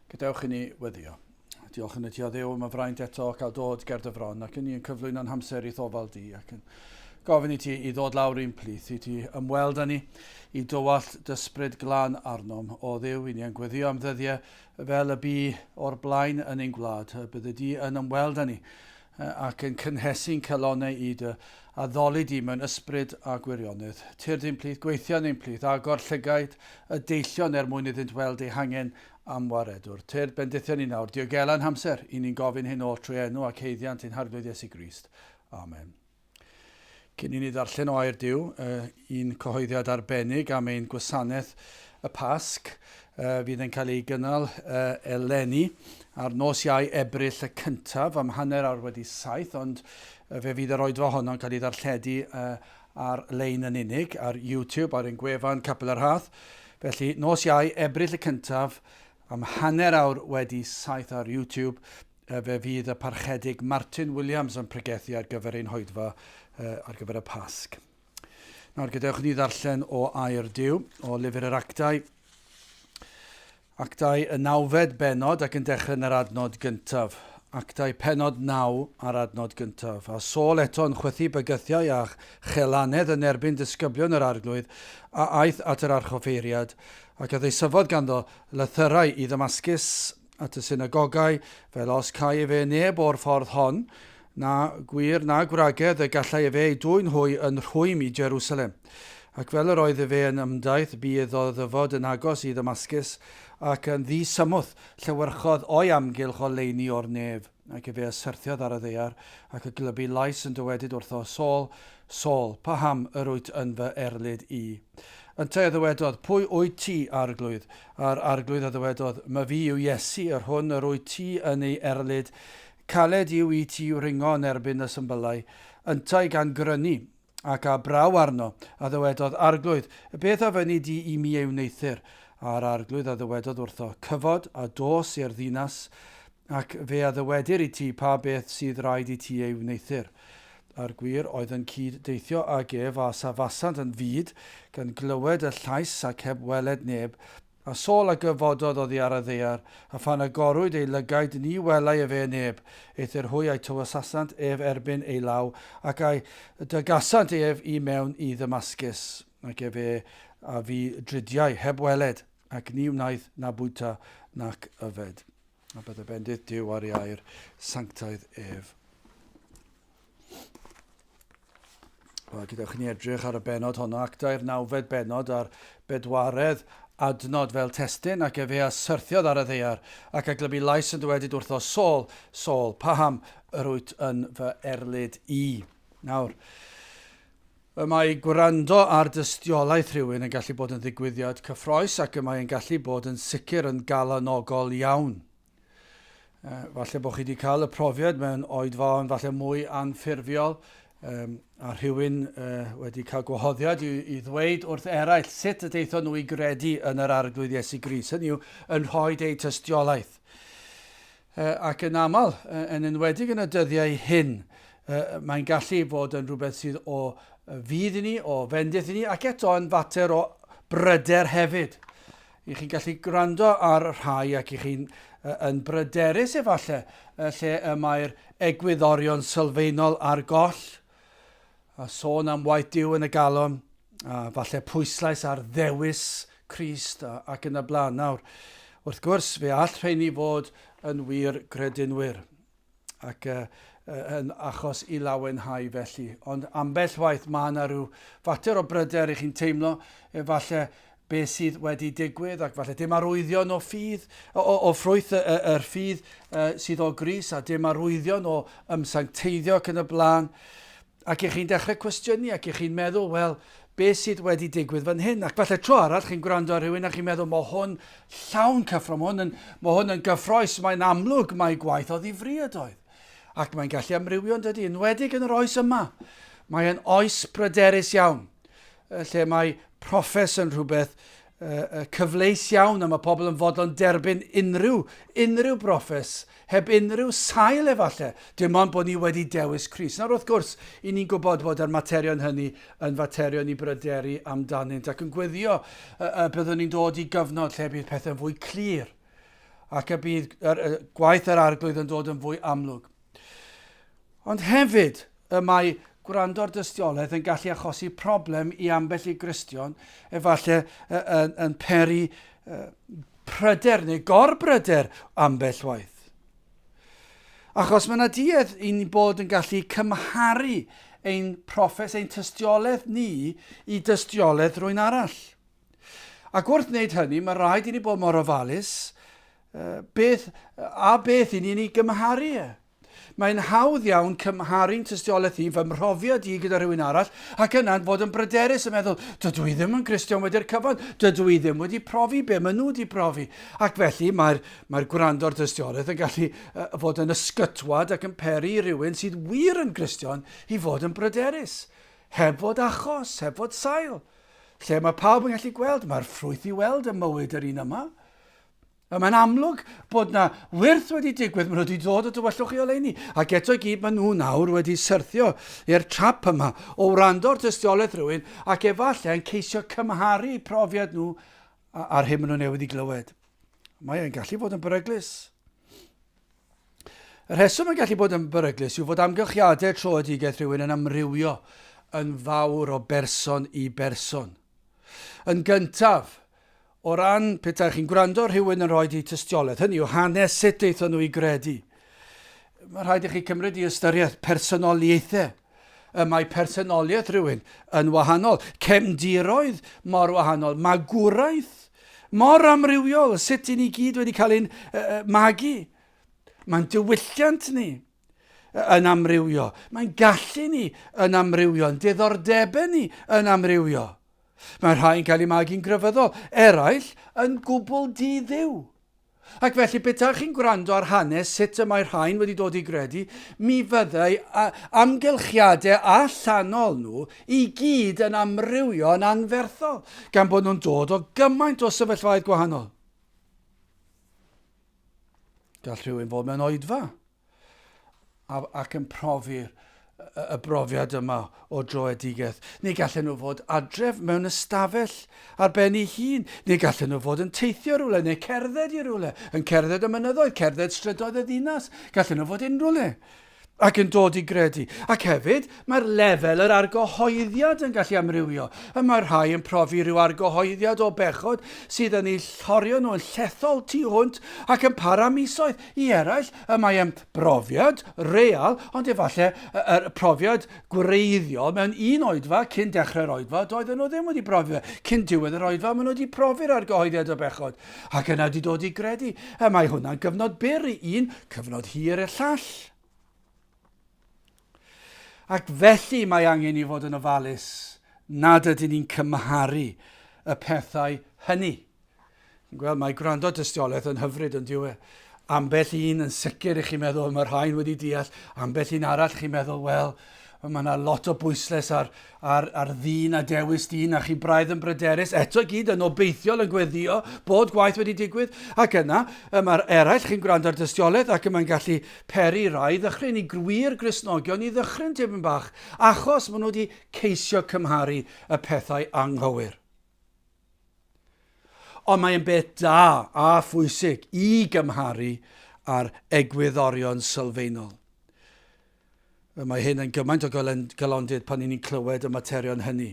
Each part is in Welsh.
Gadewch i ni weddio. Diolch yn y ti o ddew am y fraint eto cael dod ger dy fron ac yn ni yn cyflwyno'n hamser i thofal di ac yn gofyn i ti i ddod lawr i'n plith i ti ymweld â ni i dywallt dysbryd glan arnom o ddew i ni yn gweddio am ddyddiau fel y bu o'r blaen yn ein gwlad y bydde di yn ymweld â ni ac yn cynhesu'n calonnau i dy addoli di mewn ysbryd a gwirionedd. Tyrd ein plith, gweithian ein plith, agor llygaid y deillion er mwyn iddynt weld eu hangen am waredwr. Tyrd bendithion ni nawr, diogela'n hamser, i ni'n gofyn hyn oll trwy enw ac haeddiant ein Harglwydd Iesu Grist. Amen. Cyn i ni ddarllen o Air Duw, un cyhoeddiad arbennig am ein gwasanaeth y Pasg fydd yn cael ei gynnal eleni ar nos Iau Ebrill y cyntaf am hanner awr wedi saith, ond fe fydd yr oedfa honno'n cael ei ddarlledu ar lein yn unig, ar YouTube, ar ein gwefan Capel yr Hath. Felly, nos Iau Ebrill y cyntaf am hanner awr wedi saith ar YouTube, Fe fydd y Parchedig Martin Williams yn pregethu ar gyfer ein hoedfa ar gyfer y Pasg. Nawr, gadewch ni ddarllen o air Dyw, o lyfr yr actau. Actau y nawfed benod ac yn dechrau yn yr adnod gyntaf. Actau penod naw ar adnod gyntaf. A Saul eto yn chwythu bygythiau a chelanedd yn erbyn disgyblion yr arglwydd, a aeth at yr archoffeiriad, ac a ddeisyfodd ganddo lythyrau i ddymasgus at y synagogau, fel os câi efe neb o'r ffordd hon, na gwir na gwragedd y gallai efe ei dwyn hwy yn rhwym i Jerusalem. Ac fel yr oedd efe yn ymdaith, bu iddo ddyfod yn agos i Ddamascus, ac yn ddi-symwth llywyrchodd o'i amgylch oleuni o'r nef. Ac efe a syrthiodd ar y ddaear, ac y glybu lais yn dywedyd wrtho, Saul, Saul, paham yr wyt yn fy erlid i? Yntau a ddywedodd, Pwy wyt ti, Arglwydd? A'r Arglwydd a ddywedodd, My fi yw Iesu, yr hwn yr wyt ti yn ei erlid, caled yw i ti wringo yn erbyn y symbyllau. Yntau gan grynu, ac a braw arno, a ddywedodd, Arglwydd, beth a fynni di i mi ei wneuthur? A'r Arglwydd a ddywedodd wrtho, Cyfod a dos i'r ddinas, Ac fe a ddywedir i ti pa beth sydd raid i ti ei wneuthur. A'r gwir oedd yn cyd deithio ag ef, a safasant yn fud, gan glywed y llais, ac heb weled neb. A Saul a gyfododd oddi ar y ddaear, a phan agorwyd ei lygaid, ni welai efe yn neb. Eithr hwy a'i tywysasant ef erbyn ei law, ac a'i dygasant ef i mewn i Ddamascus, ac efe a fu dridiau, heb weled. Ac ni wnaeth na bwyta nac yfed. A byddai bendith Duw ar ei air sanctaidd ef. Wel, gydewch ni edrych ar y benod honno, actau'r nawfed benod a'r bedwaredd adnod fel testyn, ac efe a syrthiodd ar y ddeiar, ac a glybu lais yn dywedyd wrtho, Sol, Sol, paham yr wyt yn fy erlid i? Nawr, Y mae gwrando ar dystiolaeth rhywun yn gallu bod yn ddigwyddiad cyffroes ac y mae yn gallu bod yn sicr yn galonogol iawn. Uh, falle bod chi wedi cael y profiad mewn oedfaon falle mwy anffurfiol um, a rhywun uh, wedi cael gwahoddiad i, i ddweud wrth eraill sut y deithon nhw i gredu yn yr arglwydd Iesu Gris. Hynny yw, yn rhoi eu tystiolaeth. Ac yn aml, yn enwedig yn y dyddiau hyn, mae'n gallu bod yn rhywbeth sydd o fudd i ni, o fendith i ni, ac eto yn fater o bryder hefyd. I chi'n gallu gwrando ar rhai ac i chi'n yn bryderus efallai lle y mae'r egwyddorion sylfaenol ar goll, A sôn am waith Duw yn y galon, a falle pwyslais ar ddewis Crist a, ac yn y blaen. Nawr, wrth gwrs, fe all rheini fod yn wir gredinwyr ac uh, yn achos i lawenhau felly. Ond ambell waith mae yna rhyw fater o bryder i chi'n teimlo, efallai be sydd wedi digwydd, ac falle dim arwyddion o ffydd, o, o, o ffrwyth y, y, yr ffydd uh, sydd o gris, a dim arwyddion o ymsancteiddio ac yn y blaen. Ac ych chi'n dechrau cwestiynu, ac ych chi'n meddwl, wel, be sydd wedi digwydd fan hyn. Ac falle tro arall chi'n gwrando ar rhywun a chi'n meddwl, mae hwn llawn cyffro, mae hwn yn, mae hwn yn gyffroes, mae'n amlwg, mae gwaith o ddifriodoedd. Ac mae'n gallu amrywio yn dydy, yn wedig yn yr oes yma. Mae'n oes bryderus iawn. lle mae proffes yn rhywbeth cyfleus iawn a mae pobl yn fodlon derbyn unrhyw, unrhyw broffes, heb unrhyw sail efallai, dim ond bod ni wedi dewis Cris. Nawr wrth gwrs, i ni'n gwybod bod yr materion hynny yn faterion i bryderu amdanynt ac yn gweddio y, y byddwn ni'n dod i gyfnod lle bydd pethau'n fwy clir ac y bydd yr, y, gwaith yr arglwydd yn dod yn fwy amlwg. Ond hefyd, y mae gwrando ar dystiolaeth yn gallu achosi problem i ambell i Gristion, efallai yn, yn peri pryder neu gorbryder ambell waith. Achos mae yna duedd i'n bod yn gallu cymharu ein proffes, ein tystiolaeth ni i dystiolaeth rwy'n arall. Ac wrth wneud hynny, mae rhaid i ni bod mor ofalus beth, a beth i ni'n ei gymharu e. Mae'n hawdd iawn cymharu'n tystiolaeth i fy mhrofiad i gyda rhywun arall ac yna'n bod yn bryderus yn meddwl, dydw i ddim yn Gristion wedi'r cyfan, dydw i ddim wedi profi be maen nhw wedi profi. Ac felly mae'r mae gwrando ar dystiolaeth yn gallu uh, fod yn ysgytwad ac yn peri i rywun sydd wir yn Gristion i fod yn bryderus, heb fod achos, heb fod sail. Lle mae pawb yn gallu gweld, mae'r ffrwyth i weld ym mywyd yr un yma. A mae'n amlwg bod na wyrth wedi digwydd, maen nhw wedi dod o dywyllwch i oleini, ac eto i gyd maen nhw nawr wedi syrthio i'r trap yma o wrando ar dystiolaeth rhywun ac efallai yn ceisio cymharu profiad nhw a'r hyn maen nhw newydd i glywed. Mae e'n gallu fod yn beryglus. Y rheswm yn gallu bod yn beryglus yw fod amgylchiadau troedigaeth rhywun yn amrywio yn fawr o berson i berson. Yn gyntaf, o ran pe taech chi'n gwrando ar rhywun yn rhoi eu tystiolaeth, hynny yw hanes sut daethon nhw i gredu, mae'n rhaid i chi cymryd i ystyriaeth personoliaethau y mae personoliaeth rhywun yn wahanol, cefndiroedd mor wahanol, magwraeth mor amrywiol, sut i ni gyd wedi cael ein magu. Mae'n diwylliant ni yn amrywio. Mae'n gallu ni yn amrywio, yn diddordebau ni yn amrywio. Mae rhai'n cael ei magu'n grefyddol, eraill yn gwbl di-ddiw. Ac felly, petaech chi'n gwrando ar hanes sut y mae rhain wedi dod i gredu, mi fyddai amgylchiadau allanol nhw i gyd yn amrywio'n anferthol, gan bod nhw'n dod o gymaint o sefyllfaoedd gwahanol. Gall rhywun fod mewn oedfa, a, ac yn profi'r y brofiad yma o droedigeth. Neu gallen nhw fod adref mewn ystafell ar ben ei hun, neu gallen nhw fod yn teithio rhywle, neu cerdded i rhywle, yn cerdded y mynyddoedd, cerdded strydoedd y ddinas, gallen nhw fod unrhyw le ac yn dod i gredu. Ac hefyd, mae'r lefel yr argyhoeddiad yn gallu amrywio. Y mae rhai yn profi rhyw argyhoeddiad o bechod sydd yn eu llorio nhw'n llethol tu hwnt ac yn para misoedd, I eraill, y mae yn brofiad real, ond efallai yr profiad gwreiddiol mewn un oedfa cyn dechrau'r oedfa, doedden nhw ddim wedi brofi fe. Cyn diwedd yr oedfa, maen nhw wedi profi'r argyhoeddiad o bechod, ac yna wedi dod i gredu. Y mae hwnna'n gyfnod byr i un, cyfnod hir i'r llall. Ac felly mae angen i fod yn ofalus nad ydyn ni'n cymharu y pethau hynny. Chi'n gweld, mae gwrando dystiolaeth yn hyfryd yn diwe. Ambell un yn sicr i chi meddwl, mae'r rhain wedi deall, ambell un arall chi'n meddwl, wel, mae yna lot o bwysles ar A'r, a'r ddyn a dewis di, na chi braidd yn bryderus, eto i gyd yn obeithiol yn gweddio bod gwaith wedi digwydd, ac yna, y mae'r eraill, chi'n gwrando ar dystiolaeth ac y mae'n gallu peri rai ddychryn i grwir Gristnogion i ddychryn tipyn bach, achos maen nhw wedi ceisio cymharu y pethau anghywir. Ond mae'n beth da a phwysig i gymharu â'r egwyddorion sylfaenol. Y mae hyn yn gymaint o galondid pan ni'n clywed y materion hynny.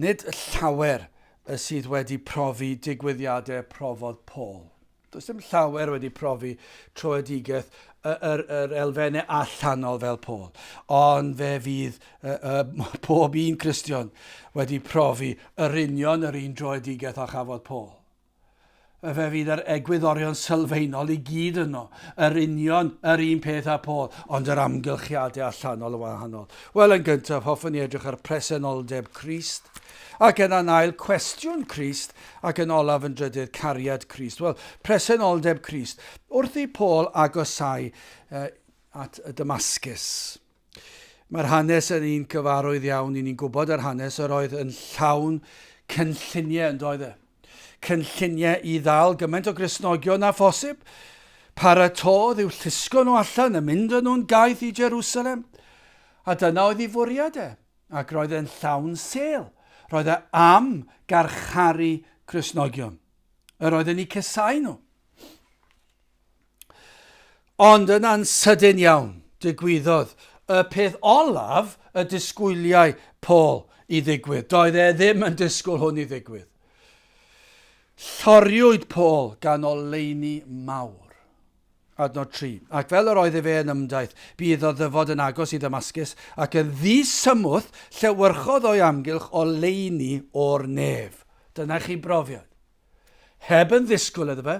Nid llawer y sydd wedi profi digwyddiadau profodd Paul. Does dim llawer wedi profi troedigaeth yr, yr elfennau allanol fel Paul. Ond fe fydd uh, uh, pob un Cristion wedi profi yr union yr un droedigaeth a chafodd Paul. Fe fydd yr egwyddorion sylfaenol i gyd yno, yr union yr un peth â Paul, ond yr amgylchiadau allanol yn wahanol. Wel, yn gyntaf, hoffwn i edrych ar presenoldeb Crist, ac yna'n ail, cwestiwn Crist, ac yn olaf yn drydydd, cariad Crist. Wel, presenoldeb Crist. Wrth i Paul agosáu uh, at y Damascus, Mae'r hanes yn un cyfarwydd iawn i ni'n gwybod yr hanes yr oedd yn llawn cynlluniau yn doedd e. Cynlluniau i ddal gymaint o grisnogion a phosib. Paratodd i'w llusgo nhw allan a mynd yn nhw'n gaeth i Jerusalem. A dyna oedd ei fwriad e, ac roedd e'n llawn sel. Roedd e am garcharu Crisnogion. Yr oedd yn eu cysau nhw. Ond yna'n sydyn iawn, digwyddodd y peth olaf y disgwyliai Paul i ddigwydd. Doedd e ddim yn disgwyl hwn i ddigwydd. Lloriwyd Paul gan oleuni mawr. Adnod 3. Ac fel yr oedd efe yn ymdaith, bu iddo ddyfod yn agos i Ddamascus, ac yn ddisymwth llewyrchodd o'i amgylch oleuni o'r nef. Dyna chi brofiad. Heb yn ddisgwyl iddo fe.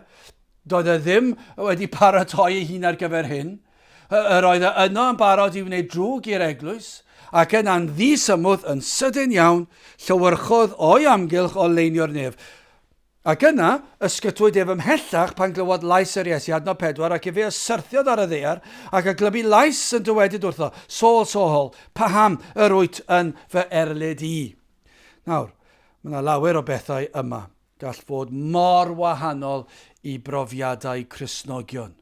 Doedd e ddim wedi paratoi ei hun ar gyfer hyn. Yr oedd e yno yn barod i wneud drwg i'r eglwys, ac yna'n ddisymwth yn sydyn iawn, llywyrchodd o'i amgylch o leinio'r nef. Ac yna, ysgytwyd ef ymhellach pan glywodd lais yr Iesu, adnod pedwar, ac efe y syrthiodd ar y ddear, ac a glybu lais yn dywedyd wrtho, Saul, Saul, paham yr wyt yn fy erlid i? Nawr, Mae yna lawer o bethau yma gall fod mor wahanol i brofiadau Cristnogion,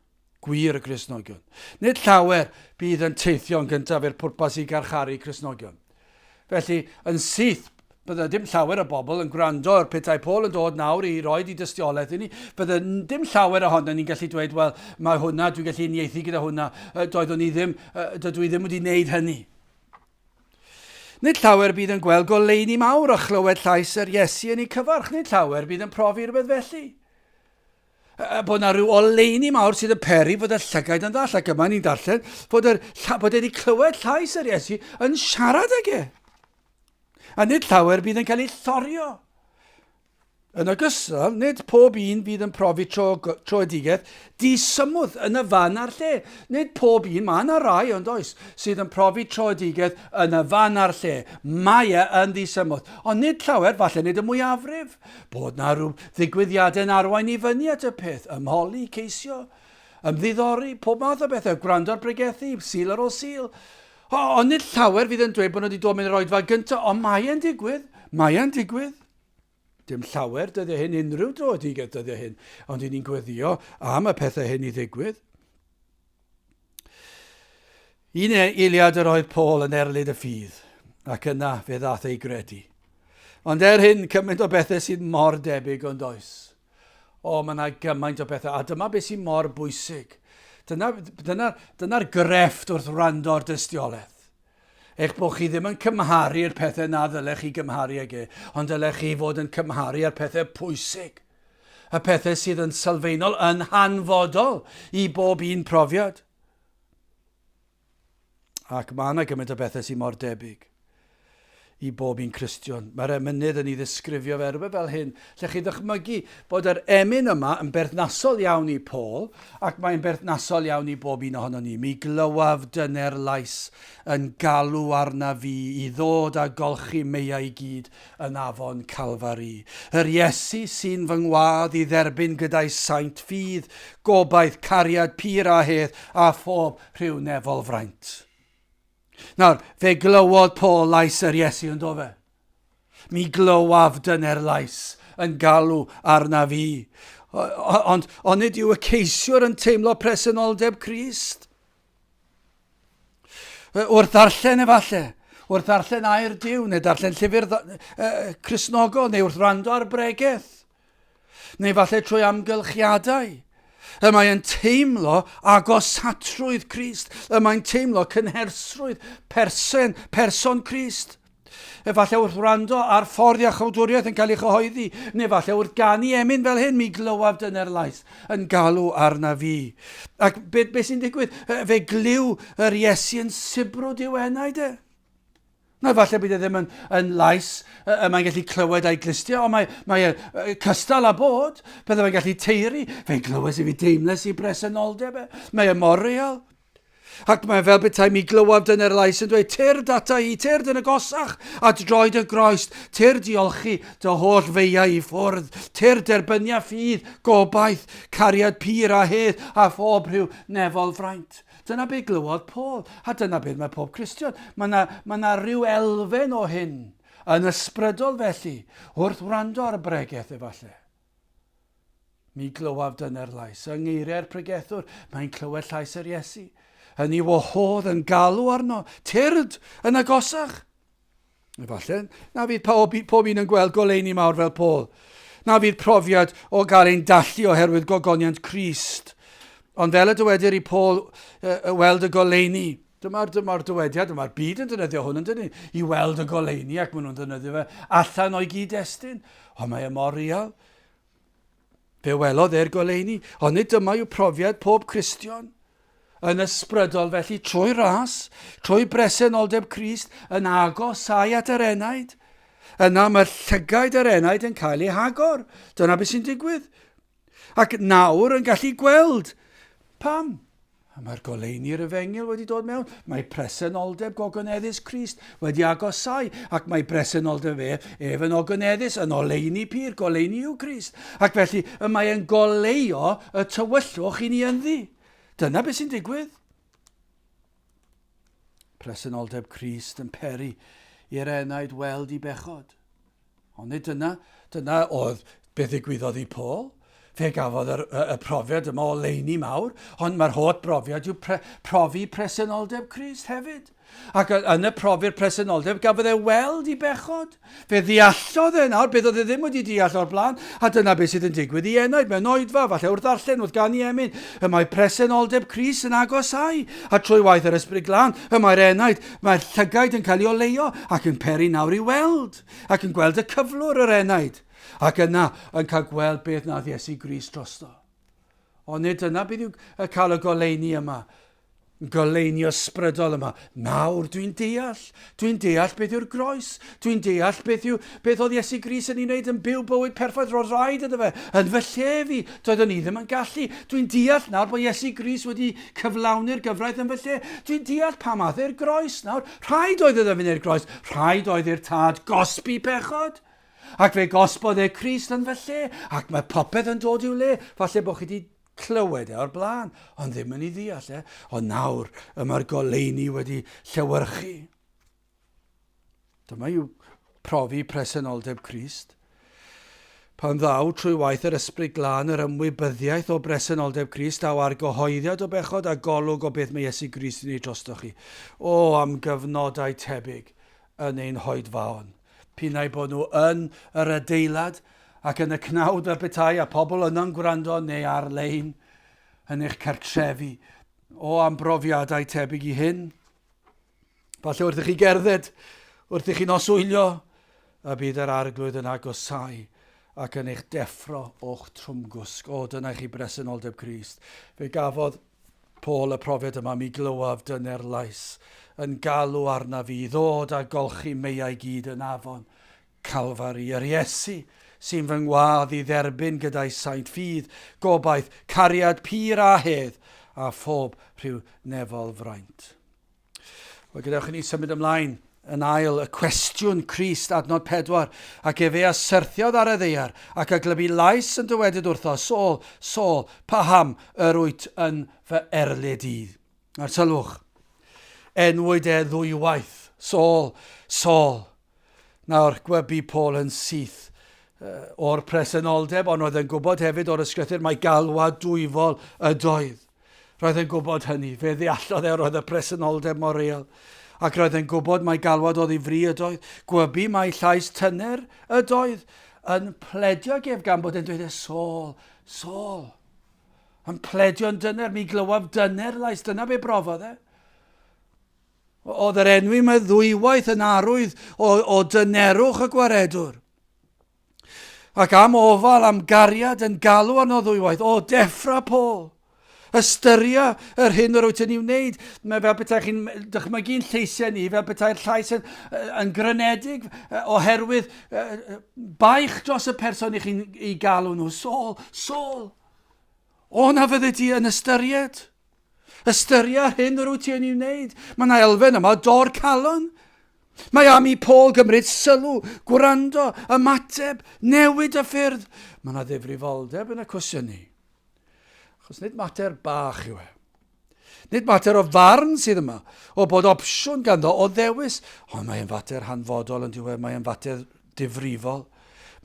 gwir y Cristnogion. Nid llawer bydd yn teithio'n gyntaf i'r pwrpas i garcharu Cristnogion. Felly, yn syth, bydde dim llawer o bobl yn gwrando ar petai Paul yn dod nawr i roed i dystiolaeth i ni. Bydde dim llawer ohono ni'n gallu dweud, wel, mae hwnna, dwi'n gallu unieithu gyda hwnna, doeddwn i ddim, dydw i ddim wedi wneud hynny. Nid llawer bydd yn gweld goleuni mawr a chlywed llais yr Iesu yn eu cyfarch, nid llawer bydd yn profi rhywbeth felly. A bod yna rhyw oleuni mawr sydd yn peri fod y llygaid yn ddall, ac yma ni'n darllen bod, yr, bod wedi clywed llais yr Iesu yn siarad ag e. A nid llawer bydd yn cael ei llorio. Yn ogystal, nid pob un fydd yn profi tro, troedigaeth disymwth yn y fan a'r lle. Nid pob un, mae yna rai ond oes, sydd yn profi troedigaeth yn y fan a'r lle. Mae e yn ddisymwth, ond nid llawer, falle nid y mwyafrif. Bod na rhyw ddigwyddiadau yn arwain i fyny at y peth, ymholi, ceisio, ymddiddori, pob math o bethau, gwrando ar bregethu, sil ar ôl sil. O, ond nid llawer fydd yn dweud bod nhw wedi dod mewn i'r oedfa gyntaf, ond mae e'n digwydd, mae e'n digwydd. Dim llawer dyddiau hyn, unrhyw dro ydy get dyddiau hyn, ond i ni'n gweddio am y pethau hyn i ddigwydd. Un e- eiliad yr oedd Paul yn erlid y ffydd, ac yna fe ddath ei gredu. Ond er hyn, cymaint o bethau sydd mor debyg ond oes. O, mae yna gymaint o bethau, a dyma beth sy'n mor bwysig. Dyna'r dyna, dyna grefft wrth wrando ar dystiolaeth. Eich bod chi ddim yn cymharu'r pethau na ddylech chi gymharu ag e, ond dylech chi fod yn cymharu â'r pethau pwysig, y pethau sydd yn sylfaenol, yn hanfodol i bob un profiad. Ac mae yna gymaint o bethau sy'n mor debyg. i bob un Cristion. Mae'r emynydd yn ei ddisgrifio fe rywbeth fel hyn, lle chi'n dychmygu bod yr emyn yma yn berthnasol iawn i Paul, ac mae'n berthnasol iawn i bob un ohono ni. Mi glywaf dyner lais yn galw arna fi i ddod a golchi meiau i gyd yn afon Calfari. Yr Iesu sy'n fy ngwadd i dderbyn gyda'i saint ffydd, gobaith, cariad, pur a hedd, a phob rhyw nefol fraint. Nawr, fe glywodd Paul lais yr Iesu yn dofe. Mi glywaf dyner lais yn galw arna fi. Ond on nid yw y ceisiwr yn teimlo presenoldeb Christ? Wrth ddarllen efallai, wrth ddarllen air Dyw, neu darllen llyfr Cresnogol, neu wrth rando ar bregeth, Neu falle trwy amgylchiadau y mae'n teimlo agosatrwydd Christ, y mae'n teimlo cynhersrwydd persen, person Christ. Efallai wrth wrando ar ffordd iachawdwriaeth yn cael ei chyhoeddi, neu efallai wrth ganu emyn fel hyn, mi glywaf dyner laeth yn galw arna fi. Ac beth be sy'n digwydd? Fe glyw yr Iesu yn sibrwd i'w enau de. Nawr, falle bydd e ddim yn, yn lais y, y mae'n gallu clywed a'i glistio, ond mae, mae e uh, cystal â bod. Byddai fe'n gallu teiri. Fe'n glywes i fi deimles i bresenoldeb e. Mae e mor real. Ac mae fel bethau mi glywaf dyna'r lais yn dweud, tyr data i, tyr dyn y gosach, at droed y groes, tyr diolchi dy holl feiau i ffwrdd, tyr derbynia ffydd, gobaith, cariad pur a hedd a phob rhyw nefol fraint. Dyna be glywodd Paul, a dyna beth mae pob Cristion. Mae yna, mae yna rhyw elfen o hyn yn ysbrydol felly, wrth wrando ar y bregeth efallai. Mi glywaf dyna'r lais. Yng ngeiriau'r pregethwr, mae'n clywed llais yr Iesu. Yn ei wahodd, yn galw arno, tyrd, yn agosach. Efallai, na fydd pob, pob un yn gweld goleuni mawr fel Paul. Na fydd profiad o gael ein dallu oherwydd gogoniant Christ. Ond fel y dywedir i Paul uh, weld y goleuni, Dyma'r dyma dywediad, dyma'r byd yn dynyddio hwn yn dynnu i weld y goleuni ac maen nhw'n dynyddio fe allan o'i gyd-destun. Ond mae e mor real. Fe welodd e'r goleuni, ond nid dyma yw profiad pob Cristion. Yn ysbrydol felly trwy ras, trwy bresenoldeb Crist yn agosau at yr enaid. Yna mae'r llygaid yr enaid yn cael eu hagor. Dyna beth sy'n digwydd. Ac nawr yn gallu gweld. Pam? A mae'r goleuni i'r efengyl wedi dod mewn, mae presenoldeb gogoneddus Crist wedi agosau, ac mae presenoldeb ef, ef yn ogoneddus, yn oleuni pur, goleuni yw Crist, ac felly y mae e'n goleio y tywyllwch i ni ynddi. Dyna beth sy'n digwydd. Presenoldeb Crist yn peri i'r enaid weld i bechod. Ond nid dyna, dyna oedd be ddigwyddodd i Paul. Fe gafodd yr, y, y profiad yma o leini mawr, ond mae'r holl brofiad yw pre, profi presenoldeb Christ hefyd. Ac yn y profi'r presenoldeb, gafodd e weld i bechod. Fe ddeallodd e nawr beth oedd e ddim wedi deall o'r blaen, a dyna beth sydd yn digwydd i enaid mewn oedfa, falle wrth ddarllen, wrth gan i emyn, y mae presenoldeb Christ yn agosau, a trwy waith yr ysbryd glân, y mae'r enaid Mae'r llygaid yn cael ei oleio ac yn peri nawr i weld, ac yn gweld y cyflwr, yr enaid, ac yna yn cael gweld beth nath Iesu Gris drosto. Ond nid dyna beth yw cael y goleini yma, goleini ysbrydol yma. Nawr dwi'n deall, dwi'n deall beth yw'r groes, Dwi'n deall beth yw, beth oedd Iesu Grist yn ei wneud yn byw bywyd perffaith, roedd rhaid iddo fe, yn fy lle fi, doeddwn i ddim yn gallu. Dwi'n deall nawr bod Iesu Grist wedi cyflawni'r gyfraith yn fy lle. Dwi'n deall pam ath e'r groes nawr. Rhaid oedd iddo fynd i'r groes, rhaid oedd i'r Tad gosbi pechod. Ac fe gosbodd e Crist yn fy lle, ac mae popeth yn dod i'w le. Falle bod chi wedi clywed e o'r blaen, ond ddim yn ei ddeall e, ond nawr y mae'r goleuni wedi llewyrchu. Dyma yw profi presenoldeb Crist. Pan ddaw trwy waith yr Ysbryd Glân yr ymwybyddiaeth o bresenoldeb Crist, daw ar gyhoeddiad o bechod a golwg o beth mae Iesu Grist yn ei drosto chi. O, am gyfnodau tebyg yn ein hoedfaon. Pinau bod nhw yn yr adeilad ac yn y cnawd a betai a pobl yno'n gwrando neu ar-lein yn eich cartrefi. O, am brofiadau tebyg i hyn. Falle wrth i chi gerdded, wrth i chi noswylio, y bydd yr arglwydd yn agosau ac yn eich deffro o'ch trwmgwsg. O, dyna chi bresenoldeb Christ. Fe gafodd Paul y profiad yma, mi glywaf dyner lais yn galw arna fi i ddod a golchi meiau gyd yn afon Calfari. Yr Iesu sy'n fy ngwadd i dderbyn gyda'i saint ffydd, gobaith, cariad pur a hedd, a phob rhyw nefol fraint. Wel, gadewch i ni symud ymlaen yn ail y cwestiwn Crist adnod 4 ac efe a syrthiodd ar y ddeiar ac a glybu lais yn dywedyd wrtho Sôl, Sôl, paham yr wyt yn fy erlid i? A'r sylwch, enwyd e ddwywaith, Sôl, Sôl, Nawr, gwe bu Paul yn syth o'r presenoldeb, ond roedd yn gwybod hefyd o'r ysgrythur mai galwad dwyfol ydoedd. Roedd yn gwybod hynny. Fe ddeallodd e roedd y presenoldeb mor real. Ac roedd yn gwybod mai galwad oddi fri ydoedd. Gwybu mai llais tyner ydoedd yn pledio gef gan bod e'n dweud e Saul, Saul. Yn pledio'n dyner, mi glywaf dyner lais, dyna be brofodd e. Oedd yr enw yma ddwywaith yn arwydd o, o dynerwch y gwaredwr. Ac am ofal, am gariad yn galw arno ddwywaith, o deffra Paul. Ystyria yr hyn yr wyt yn ei wneud. Mae fel bethau chi'n dychmygu'n lleisiau ni, fel bethau'r llais yn, yn grynedig oherwydd baich dros y person i chi'n ei galw nhw. Sol, sol, o na fyddi di yn ystyried? Ystyria ar hyn yr wyt ti yn ei wneud. Mae yna elfen yma o dor calon. Mae am i Paul gymryd sylw, gwrando, ymateb, newid y ffyrdd. Mae yna ddifrifoldeb yn y cwestiynu. Achos nid mater bach yw e. Nid mater o farn sydd yma, o bod opsiwn ganddo o ddewis, ond mae'n fater hanfodol yn diwedd, mae'n fater difrifol,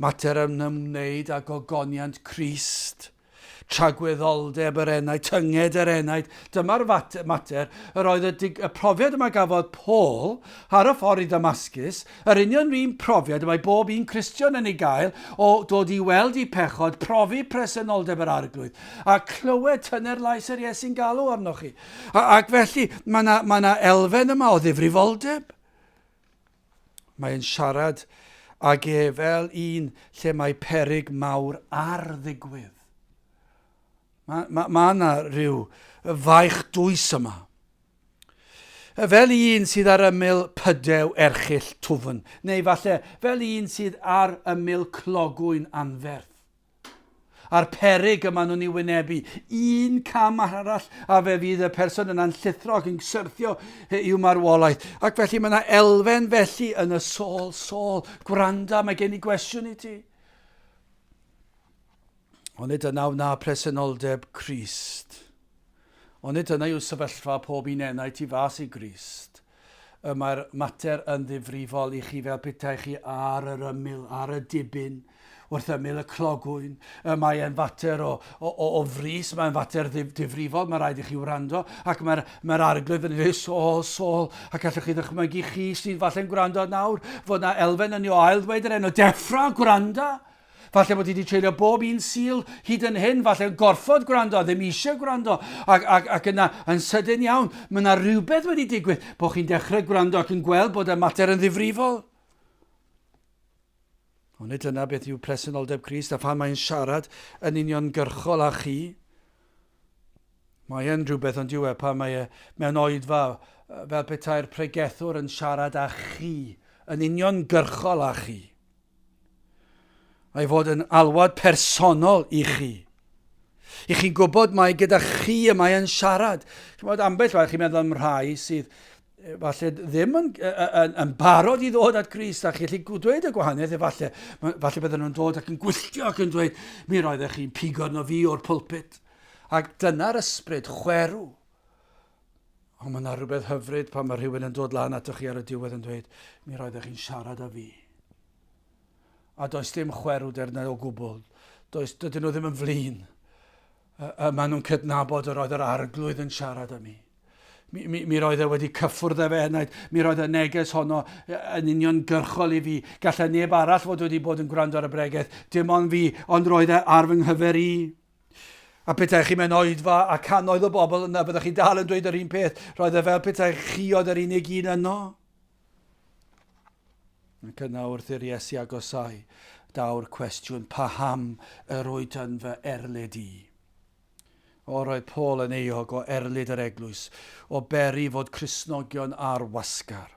mater yn ymwneud â gogoniant Christ. Tragwyddoldeb yr enaid, tynged yr enaid, dyma'r mater, yr oedd y, dig, y profiad y mae gafodd Paul ar y ffordd i Ddamascus, yr union un profiad y mae bob un Cristion yn ei gael o dod i weld i pechod, profi presenoldeb yr arglwydd, a clywed tyner lais yr Iesu'n galw arnoch chi. A, ac felly, mae yna ma elfen yma o ddifrifoldeb. Mae'n siarad ag e fel un lle mae peryg mawr ar ddigwydd. Mae yna ma, ma rhyw faich dwys yma. Fel un sydd ar ymyl pydew erchill twfn, neu falle fel un sydd ar ymyl clogwyn anferth. a'r peryg y maen nhw'n ei wynebu. Un cam arall a fe fydd y person yna'n llithro ac yn syrthio i'w marwolaeth. Ac felly mae yna elfen felly yn y sôl, sôl, gwranda, mae gen i gwestiwn i ti. Onid yna wna presenoldeb Christ? Onid yna yw sefyllfa pob un enaid tu fas i Grist? Y mae'r mater yn ddifrifol i chi fel petai chi ar yr ymyl, ar y dibyn, wrth ymyl y clogwyn. Y mae e'n fater o, o, o, o frys, mae'n fater ddif, difrifol, mae rhaid i chi wrando, ac mae'r mae arglwydd yn ei sol, sol, ac allwch chi ddychmygu chi sy'n falle'n gwrando nawr, fod na elfen yn ei ail ddweud yr enw, deffra, gwranda! Falle bod ti wedi treulio bob un Sul hyd yn hyn, falle yn gorfod gwrando a ddim eisiau gwrando, ac, ac, ac yna yn sydyn iawn, mae yna rhywbeth wedi digwydd, bod chi'n dechrau gwrando ac yn gweld bod y mater yn ddifrifol. Ond nid dyna beth yw presenoldeb Christ a phan mae'n siarad yn union gyrchol â chi, mae e'n rhywbeth ond yw e pan mae e mewn oedfa fel petai'r pregethwr yn siarad â chi, yn union gyrchol â chi. ei fod yn alwad personol i chi. I chi'n gwybod mae gyda chi y mae yn siarad. Chymod, ambell waith chi'n meddwl am rhai sydd falle ddim yn, yn, yn barod i ddod at Grist a chi'n gallu dweud y gwahaniaeth efallai. Falle bydden nhw'n dod ac yn gwylltio ac yn dweud, mi roeddech chi'n pigo arno fi o'r pulpit. Ac dyna'r ysbryd chwerw. Ond mae 'na rhywbeth hyfryd pan mae rhywun yn dod lan atoch chi ar y diwedd yn dweud, mi roeddech chi'n siarad â fi. A does dim chwerwder na o gwbl. Does, dydyn nhw ddim yn flin. Uh, uh, maen nhw'n cydnabod yr oedd yr arglwydd yn siarad â mi. Mi, mi, mi roedd e wedi cyffwrdd â fe hynnaid, mi roedd y neges honno yn union gyrchol i fi. Gallai neb arall fod wedi bod yn gwrando ar y bregeth, dim ond fi, ond roedd e ar fy nghyfer i. A petaech chi mewn oedfa a cannoedd o bobl yna, byddech chi dal yn dweud yr un peth. Roedd e fel petai chi oedd yr unig un yno. Ac yna wrth i'r Iesu agosau, daw'r cwestiwn, paham yr wyt yn fy erlid i? O, roedd Paul yn eog o erlid yr eglwys, o beri fod Crisnogion ar wasgar.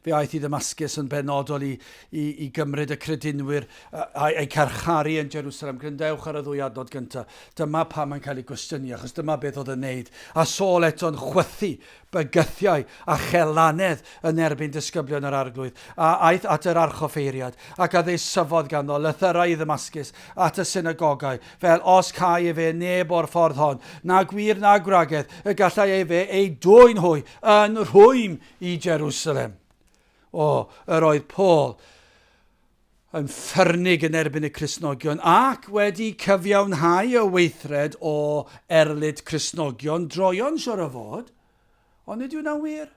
Fe aeth i Ddamascus yn benodol i, i, i gymryd y credinwyr a'i carcharu yn Jerusalem. Gryndewch ar y ddwy adnod gyntaf. Dyma pa mae'n cael ei gwestiynu, achos dyma beth oedd yn neud. A Saul eto'n chwythu bygythiau a chelanedd yn erbyn disgyblion yr arglwydd, a aeth at yr archoffeiriad, ac a ddeisyfodd ganddo, lythyrau i Ddamascus, at y synagogau, fel os câi efe neb o'r ffordd hon, na gwir na gwragedd, y gallai efe ei dwyn hwy yn rhwym i Jerusalem. O, yr oedd Paul yn ffyrnig yn erbyn y Crisnogion ac wedi cyfiawnhau y weithred o erlid Crisnogion droion siwr o fod, Ond nid yw hynna'n wir.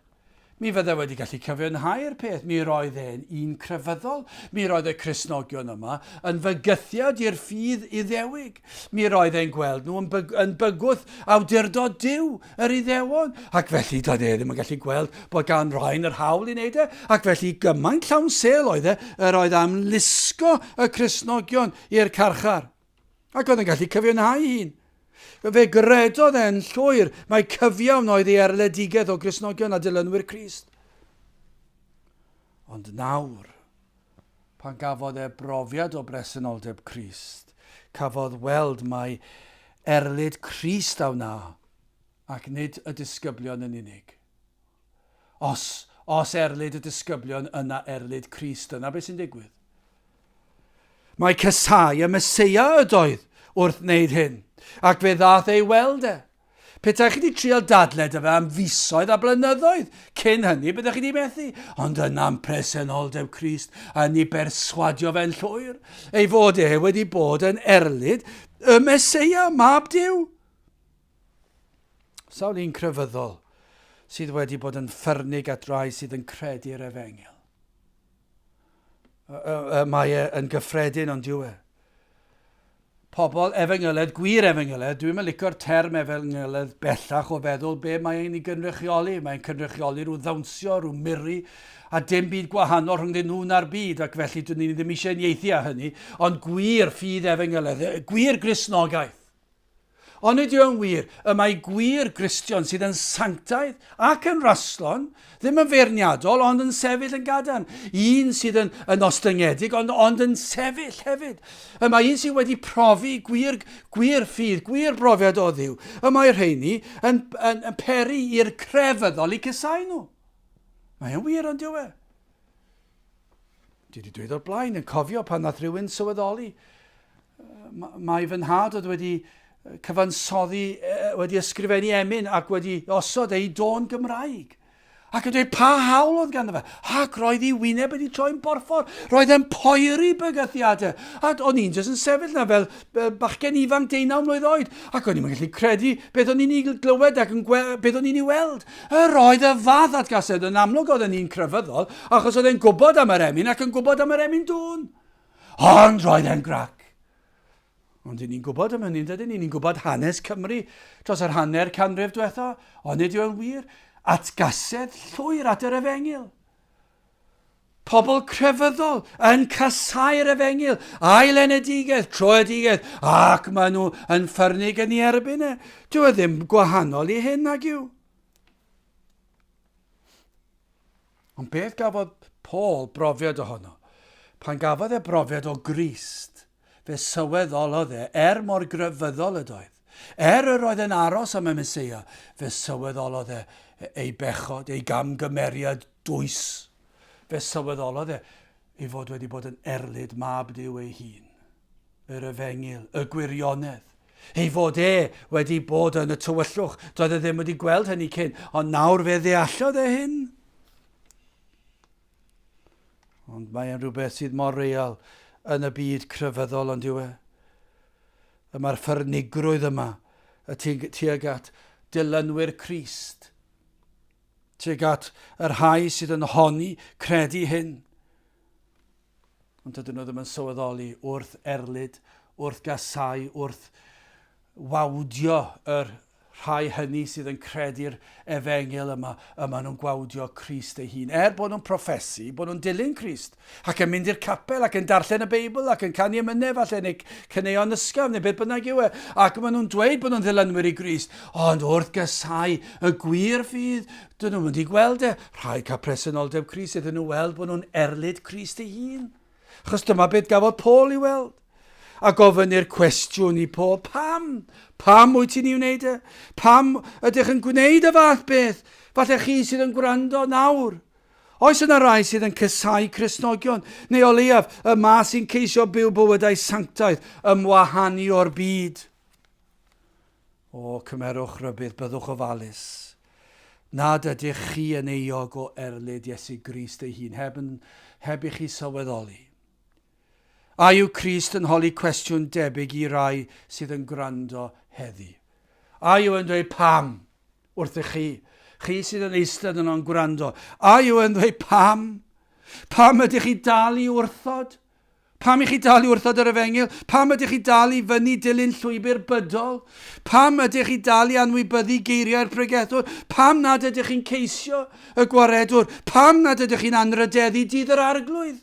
Mi fyddai wedi gallu cyfiawnhau'r peth, mi roedd e'n un crefyddol, mi roedd y Cristnogion yma yn fygythiad i'r ffydd Iddewig, mi roedd e'n gweld nhw yn, byg, yn bygwth awdurdod Duw, yr Iddewon, ac felly doedd e ddim yn gallu gweld bod gan Ryan yr hawl i wneud e, ac felly gymaint llawn sêl oedd e, yr oedd am lusgo y Cristnogion i'r carchar. Ac oedd yn gallu cyfiawnhau hun. Fe gredodd e'n llwyr mae cyfiawn oedd ei erledigaeth o Gristnogion a dilynwyr Crist. Ond nawr, pan gafodd e brofiad o bresenoldeb Crist, cafodd weld mai erlid Crist a wna, ac nid y disgyblion yn unig. Os, os erlid y disgyblion, yna erlid Crist. Dyna beth sy'n digwydd. Mae casau y Mesoea ydoedd wrth wneud hyn, ac fe ddath ei weld e. Petaech chi wedi trial dadled y fe am fisoedd a blynyddoedd cyn hynny, byddech chi wedi methu. Ond yna'n presenoldeb Crist, a ni berswadio fe'n llwyr, ei fod e wedi bod yn erlid y Mesoea, mab Dyw. Sawl un crefyddol sydd wedi bod yn ffyrnig at rai sydd yn credu'r efengyl? Mae e yn gyffredin ond yw e? Pobl efengyledd, gwir efengyledd, dwi'n mylicio'r term efengyledd bellach o feddwl be mae ein i gynrychioli. Mae'n cynrychioli rhyw ddawnsio, rhyw miri, a dim byd gwahanol rhwng nhw na'r byd, ac felly dyn ni ddim eisiau unieithu â hynny, ond gwir ffydd efengyledd, gwir grisnogaeth. Onid yw'n wir y mae gwir Gristion sydd yn sanctaidd ac yn rastlon, ddim yn feirniadol ond yn sefyll yn gadarn, un sydd yn, yn ostyngedig ond, ond yn sefyll hefyd? Y mae un sydd wedi profi gwir, gwir ffydd, gwir brofiad o ddiw, y mae rheini yn, yn, yn peri i'r crefyddol i cysau nhw. Mae'n wir ond yw e? Dwi wedi dweud o'r blaen, yn cofio pan nath rhywun sylweddoli, mae fy nhad oedd wedi cyfansoddi, wedi ysgrifennu emyn ac wedi osod ei dôn Gymraeg. Ac yn dweud pa hawl oedd ganddo fe. Ac roedd ei wyneb wedi troi'n borffor. Roedd e'n poeri bygythiadau. A o'n i'n jyst yn sefyll na fel bachgen ifanc deunaw mlynedd oed. Ac o'n i'n gallu credu beth o'n i'n ei glywed ac yn beth o'n i'n ei weld. Yr oedd y fath atgasedd yn amlwg oedd yn un crefyddol, achos oedd e'n gwybod am yr emyn ac yn gwybod am yr emyn dŵn. Ond roedd e'n grac. Ond dyn ni'n gwybod am hynny, dydyn ni? Ni'n gwybod hanes Cymru dros yr hanner canrif diwetha, ond nid yw'n wir atgasedd llwyr at yr efengyl. Pobl crefyddol yn casáu'r efengyl a'i lenedigaeth, troedigaeth, ac maen nhw yn ffyrnig yn ei erbyn e. Dyw e ddim gwahanol i hyn nag yw. Ond beth gafodd Paul brofiad ohono? Pan gafodd e brofiad o Grist, Fe sylweddolodd e, er mor grefyddol ydoedd, er yr oedd e'n aros am y Meseia, fe sylweddolodd e ei bechod, ei gamgymeriad dwys. Fe sylweddolodd e ei fod wedi bod yn erlid Mab Duw ei hun. Yr efengyl, y gwirionedd, ei fod e wedi bod yn y tywyllwch, doedd e ddim wedi gweld hynny cyn, ond nawr fe ddeallodd e hyn. Ond mae e'n rhywbeth sydd mor real yn y byd crefyddol ond yw e? Y mae'r ffyrnigrwydd yma y tuag at dilynwyr Crist, tuag at yr rhai sydd yn honi credu hyn. Ond dydyn nhw ddim yn sylweddoli wrth erlid, wrth gasau, wrth wawdio yr rhai hynny sydd yn credu'r efengyl yma, y maen nhw'n gwawdio Crist ei hun, er bod nhw'n proffesu, bod nhw'n dilyn Crist, ac yn mynd i'r capel, ac yn darllen y Beibl, ac yn canu ymynedd falle, neu cyneuon ysgaf, neu beth bynnag yw e, ac maen nhw'n dweud bod nhw'n ddilynwyr i Grist, ond wrth gysau y gwir fydd, dyn nhw'n mynd i gweld e, rhai cael presenoldeb Crist iddyn nhw weld bod nhw'n erlid Crist ei hun. Achos dyma beth gafodd Paul i weld. A gofyn i'r cwestiwn i Paul, pam? Pam wyt ti'n ei wneud e? Pam ydych yn gwneud y fath beth? Falle chi sydd yn gwrando nawr. Oes yna rai sydd yn cysau Cresnogion, neu o leiaf y ma sy'n ceisio byw bywydau sanctaidd ymwahanu o'r byd? O, cymerwch rybudd, byddwch ofalus, nad ydych chi yn euog o erlid Iesu Grist ei hun, heb yn, heb i chi sylweddoli. A yw Crist yn holi cwestiwn debyg i rai sydd yn gwrando heddi? A yw yn dweud pam wrthych chi, chi sydd yn eistedd yno'n gwrando? A yw yn dweud pam? Pam ydych chi dal i wrthod? Pam i chi dal i wrthod yr efengyl? Pam ydych chi dal i fyny dilyn llwybr bydol? Pam ydych chi dal i anwybyddu geiriau'r pregethwr? Pam nad ydych chi'n ceisio y gwaredwr? Pam nad ydych chi'n anrhydeddu dydd yr Arglwydd?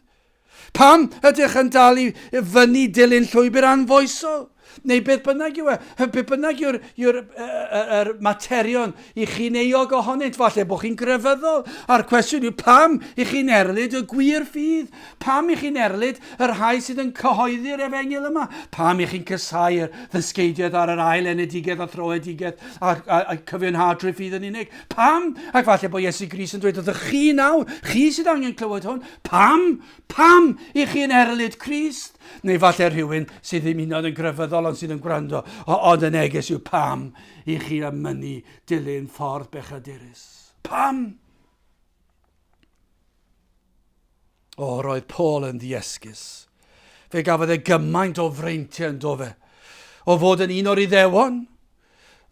Pam ydych yn dal i fyny dilyn llwybr anfoesol? Neu beth bynnag yw e, beth bynnag yw'r yw er, er, er materion i chi'n eog ohonynt, falle bod chi'n grefyddol, a'r cwestiwn yw pam i chi'n erlid y gwir ffydd, pam i chi'n erlid yr rhai sydd yn cyhoeddi'r efengil yma, pam i chi'n cysau'r ddysgeidiaeth ar yr ail enedigaeth a throedigaeth a, a, a cyfiawnhad trwy ffydd yn unig, pam, ac falle bod Iesu Gris yn dweud wrthych chi nawr, chi sydd angen clywed hwn, pam, Pam? I chi yn erlid Crist? Neu falle rhywun sydd ddim hyn oed yn grefyddol ond sydd yn gwrando, o, ond y neges yw pam i chi am mynnu dilyn ffordd bechadurus? Pam? O, roedd Paul yn ddiesgus. Fe gafodd e gymaint o freintiau yn dofe. O fod yn un o'r iddewon,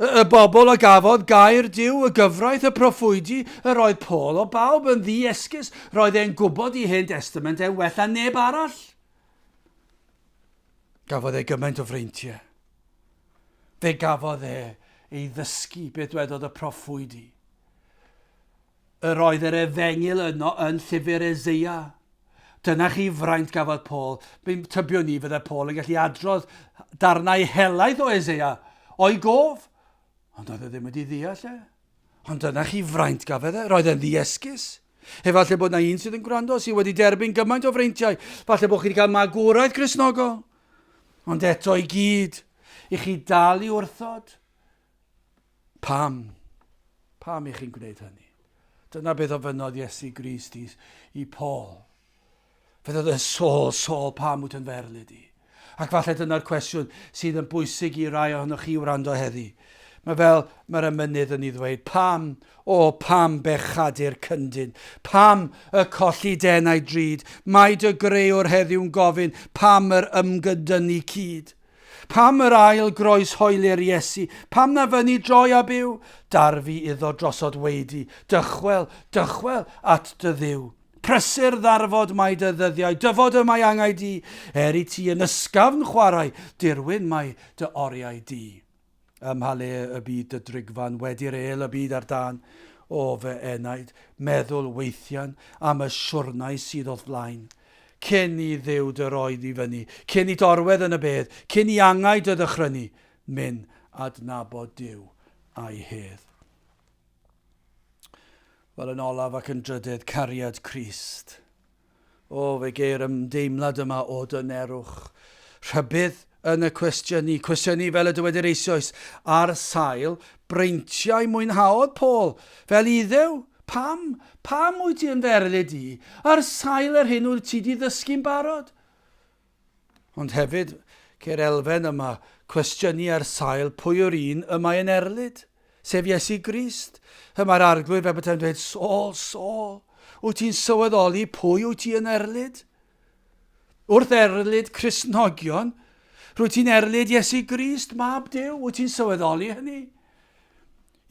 Y bobl a gafodd gair Duw, y gyfraith, y proffwydi, yr oedd Paul o bawb yn ddi-esgus, roedd e'n gwybod i Hen Destament e'n well na neb arall. Gafodd e gymaint o freintiau. Fe gafodd e ei ddysgu beth dwedodd y proffwydi. Yr oedd yr efengyl yno yn llyfr Eseia. Dyna chi fraint gafodd Paul. Mae'n tybio ni fydde Paul yn gallu adrodd darnau helaeth o Eseia, o'i gof, ond oedd e ddim wedi ddeall e. Ond dyna chi fraint gafedd e, roedd e'n ddiesgus. Efallai bod na un sydd yn gwrando sydd wedi derbyn gymaint o freintiau, falle bod chi wedi cael magwraeth Gristnogol. Ond eto i gyd, i chi dal i wrthod, Pam? Pam i chi'n gwneud hynny? Dyna beth ofynnodd Iesu Grist i, i Paul. Fe ddod yn sôl, sôl, pam wyt yn ferl i di? Ac falle dyna'r cwestiwn sydd yn bwysig i rai ohonoch chi wrando heddi. Mae fel mae'r emynydd yn ei ddweud, pam, o pam bechadur cyndyn, pam y colli denau drud, mae dy greuwr heddiw'n gofyn pam yr ymgydynu cyd. Pam yr ail groeshoeli'r Iesu? Pam na fyny droi a byw? Darfu iddo drosod weidy, Dychwel, dychwel at dy Dduw. Prysur ddarfod mae dy ddyddiau, Dyfod y mae angau di, Er i ti yn ysgafn chwarae, Dirwyn mae dy oriau di. Ym mha le y bydd dy drigfan wedi'r êl y bydd ar dân o fy enaid? Meddwl weithian am y siwrnai sydd o'th flaen. Cyn i Dduw dy roi di fyny, cyn i t'orwedd yn y bedd, cyn i angau dy ddychrynu, myn' adnabod Duw a'i hedd. Wel, yn olaf ac yn drydedd, cariad Crist. O, fe geir ymdeimlad yma o dynerwch, rhybudd yn y cwestiynu, cwestiynu fel y dywedir eisoes, ar sail breintiau mwynhaodd Paul, fel Iddew, pam, pam wyt ti yn fy erlid i, ar sail yr hyn wyt ti di ddysgu'n barod? Ond hefyd, ceir elfen yma cwestiynu ar sail pwy yw'r un y mae yn erlid, sef Iesu Grist. Y mae'r Arglwydd fel beta'n dweud, Saul, Saul, wyt ti'n sylweddoli pwy wyt ti yn erlid? Wrth erlid Cristnogion, rwyt ti'n erlid Iesu Grist, mab Dyw, wyt ti'n sylweddoli hynny?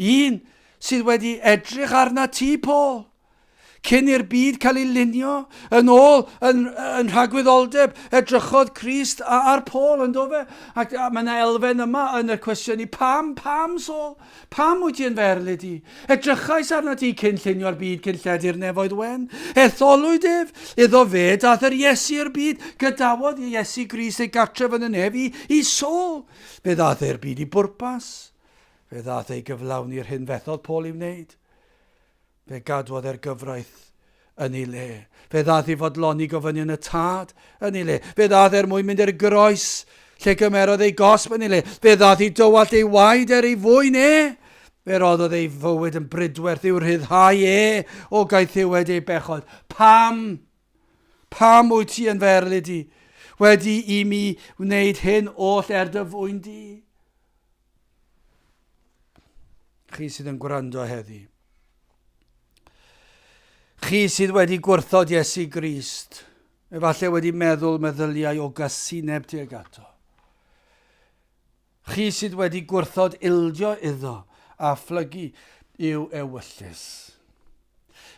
Un sydd wedi edrych arna ti, Paul, Cyn i'r byd cael ei lunio, yn ôl yn, yn rhagwyddoldeb, edrychodd Christ ar Paul, yn dofe? Ac mae yna elfen yma yn y cwestiwn i, pam, pam, Saul? Pam wyt ti yn fy erlid i? Edrychais arna ti cyn llunio'r byd, cyn lledu'r nefoedd wen. Etholwyd ef, iddo fe, dath yr Iesu i'r byd, gadawodd Iesu Grist ei gartref yn y nef i, i Saul. Fe ddath e'r byd i bwrpas. Fe ddath ei gyflawni'r hyn fethodd Paul i wneud. Fe gadwodd e'r gyfraith yn ei le. Fe ddaeth i fodloni gofynion y Tad yn ei le. Fe ddaeth er mwyn mynd i'r groes, lle cymerodd ei gosb yn ei le. Fe ddaeth i dywallt ei waed er ei fwyn e. Fe roddodd ei fywyd yn brydwerth i'w rhyddhau e o gaethiwed ei bechod. Pam? Pam wyt ti yn fy erlid i? Wedi i mi wneud hyn oll er dy fwyn di? Chi sydd yn gwrando heddi. Chi sydd wedi gwrthod Iesu Grist, efallai wedi meddwl meddyliau o gasineb tuag ato. Chi sydd wedi gwrthod ildio iddo a phlygu i'w ewyllys.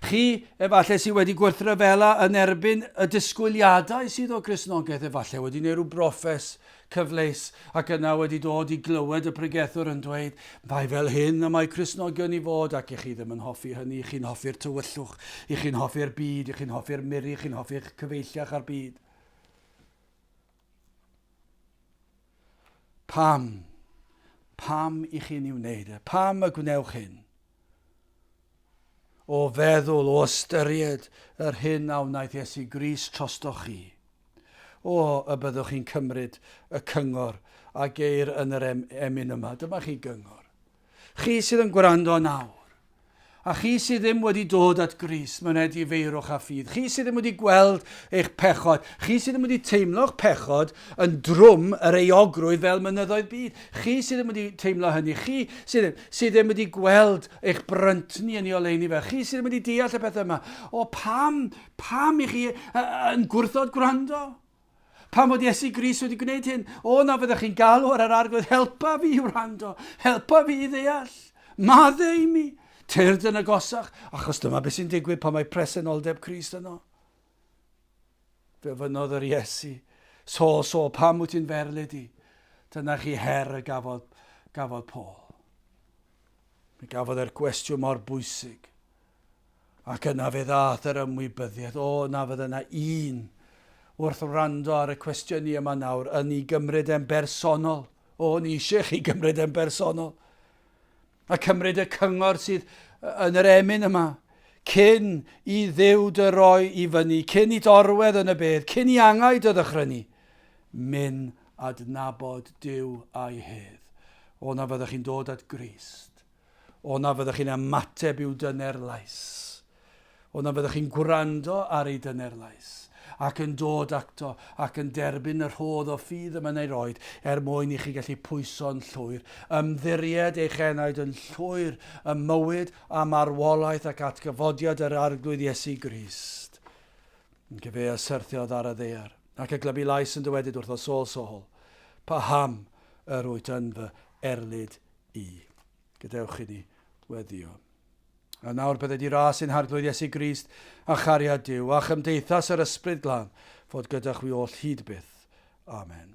Chi, efallai, sydd wedi gwerthryfela yn erbyn y disgwyliadau sydd o Gristnogaeth, efallai wedi gwneud rhyw broffes cyfleus ac yna wedi dod i glywed y pregethwr yn dweud, mae fel hyn y mae Cristnogion i fod ac i chi ddim yn hoffi hynny, chi'n hoffi'r tywyllwch, i chi'n hoffi'r byd, i chi'n hoffi'r miri, chi'n hoffi'ch cyfeillach a'r byd. Pam? Pam i chi'n ei wneud e? Pam y gwnewch hyn? O feddwl, o ystyried yr hyn a wnaeth Iesu Gris trostoch chi. O, y byddwch chi'n cymryd y cyngor a geir yn yr em emyn yma. Dyma chi gyngor. Chi sydd yn gwrando nawr, a chi sydd ddim wedi dod at Grist, myned i feirwch a ffydd. Chi sydd ddim wedi gweld eich pechod, chi sydd ddim wedi teimlo'ch pechod yn drwm yr euogrwydd fel mynyddoedd byd, chi sydd ddim wedi teimlo hynny, chi sydd, sydd ddim wedi gweld eich bryntni yn ei oleuni fe, chi sydd ddim wedi deall y pethau yma, o pam, pam i chi yn gwrthod gwrando? Pam fod Iesu Grist wedi gwneud hyn? O na fyddech chi'n galw ar yr Arglwydd, helpa fi i wrando, helpa fi i ddeall. Madde i mi, tyrd yn agosach, achos dyma beth sy'n digwydd pan mae presenoldeb Crist yno. Fe ofynodd yr Iesu, Sol, Sol, pam wyt ti'n ferlid i? Dyna chi her y gafodd, gafodd Paul. Mi gafodd e'r gwestiwn mor bwysig. Ac yna fe ddaeth yr ymwybyddiaeth, o, na fydda yna un, wrth wrando ar y cwestiwn ni yma nawr, yn i gymryd e'n bersonol. O, ni eisiau chi gymryd e'n bersonol. A cymryd y cyngor sydd yn yr emyn yma, cyn i ddiw dy roi i fyny, cyn i dorwedd yn y bedd, cyn i angau dy ddychrynu. Myn adnabod Dyw a'i hedd. O na fyddwch chi'n dod at Grist, O na fyddech chi'n ymateb i'w dyner lais. O na fyddech chi'n gwrando ar ei dyner lais, ac yn dod acto, ac yn derbyn y rhodd o ffydd y mae'n ei roed, er mwyn i chi gallu pwyso'n llwyr, ymddiried eich enaid yn llwyr ym mywyd a marwolaeth ac atgyfodiad yr Arglwydd Iesu Grist. Yn cyfe a syrthiodd ar y ddear, ac y glybu lais yn dywedyd wrtho, Saul, Saul, paham yr wyt yn fy erlid Y. Gadewch inni weddio. A nawr byddai di ras i'n Harglwydd Iesu Grist, a chariad Duw, a chymdeithas yr Ysbryd Glân, fod gyda chwi oll hyd byth. Amen.